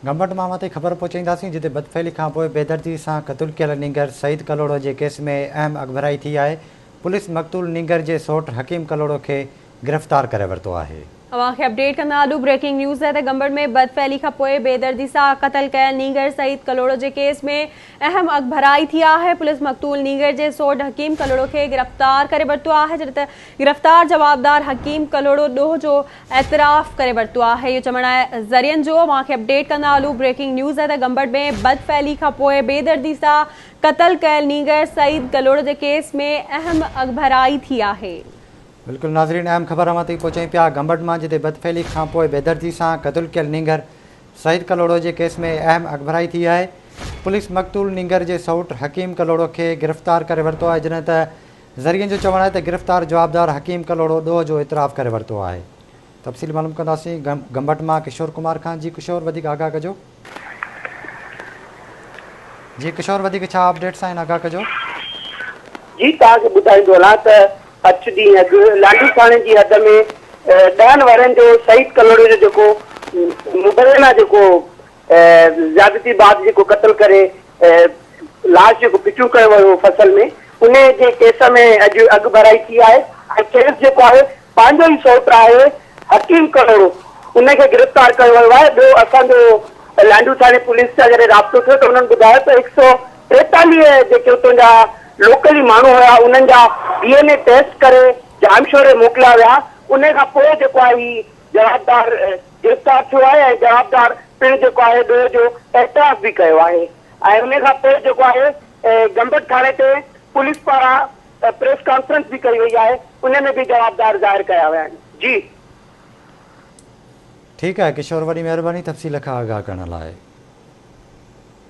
گمبٽ مان مٿي خبر پهچائينداسين جتي بدفعلي کانپوء بيدردي سان قتل ڪيل نينگر سعيد ڪلهوڙو جي ڪيس ۾ اهم اڳڀرائي ٿي آهي، پوليس مقتول نينگر جي سئوٽ حڪيم ڪلهوڙو کي گرفتار ڪري ورتو آهي. اوهان کي اپڊيٽ ڪندا آڏو بريڪنگ نيوز تحت گمبٽ ۾ بدفعلي کانپوء بيدردي سان قتل ڪيل نينگر سعيد ڪلهوڙو جي ڪيس ۾ اهم اڳڀرائي ٿي آهي، پوليس مقتول نينگر جي سئوٽ حڪيم ڪلهوڙو کي گرفتار ڪري ورتو آهي جڏهن ته گرفتار جوابدار حڪيم ڪلهوڙو ڏوهه جو اعتراف ڪري ورتو آهي اهو چوڻ آهي ذريعن جو اوهان کي اپڊيٽ ڪندا هلون بريڪنگ نيوز آهي ته گمبٽ ۾ بد فعلي کان پوء بي دردي سان قتل ڪيل نينگر سعيد ڪلهوڙو جي ڪيس ۾ اهم اڳڀرائي ٿي آهي. بلڪل ناظرين اهم خبر اوهان تائين پهچائين پيا گمبٽ مان جتي بد فعلي کان پوء بي دردي سان قتل ڪيل نينگر سعيد ڪلهوڙو جي ڪيس ۾ اهم اڳڀرائي ٿي آهي پوليس مقتول نينگر جي سئوٽ حڪيم ڪلهوڙو کي گرفتار ڪري ورتو آهي جڏهن ته ذريعن جو چوڻ آهي ته گرفتار جوابدار حڪيم ڪلهوڙو ڏوهه جو اعتراف ڪري ورتو آهي تفصيل معلوم ڪنداسين گمبٽ مان ڪشور ڪمار کان جي ڪشور وڌيڪ آگاهه ڪجو جي ڪشور وڌيڪ ڇا اپڊيٽس آهن آگاهه ڪجو. جي توهان کي ٻڌائيندو هلان ته اچ ڏينهن اڳ لانڍي ٿاڻي جي حد ۾ ڏهن ورهين جو سعيد ڪلهوڙي جو جيڪو مبينا جيڪو زيادتي بعد جيڪو قتل ڪري لاش جيڪو پھچون ڪيو ويو ھو فصل ۾ ان جي ڪيس ۾ اڄ اڳڀرائي ٿي آھي ۽ کيس جيڪو آھي پنھنجو ئي سوٽ آھي حڪيم ڪلھوڙو ان کي گرفتار ڪيو ويو آھي ٻيو اسان جو لانڍو ٿاڻي پوليس سان جڏھن رابطو ٿيو ته انھن ٻڌايو ته ھڪ سؤ ٽيتاليھ جيڪي اتون جا لوڪل ئي ماڻھو ھيا انھن جا ڊي اين اي ٽيسٽ ڪري ڄامشوري موڪليا ويا ان کان پوء جيڪو آھي ھي جوابدار گرفتار ٿيو آهي ۽ جوابدار پڻ جيڪو آهي ڏوهه جو اعتراف به ڪيو آهي ۽ ان کان پوء جيڪو آهي گمبٽ ٿاڻي تي پوليس پاران پريس ڪانفرنس به ڪئي وئي آهي ان ۾ به جوابدار ظاهر ڪيا ويا آهن جي. ٺيڪ آهي ڪشور وڏي مهرباني تفصيل کان آگاهه ڪرڻ لاء.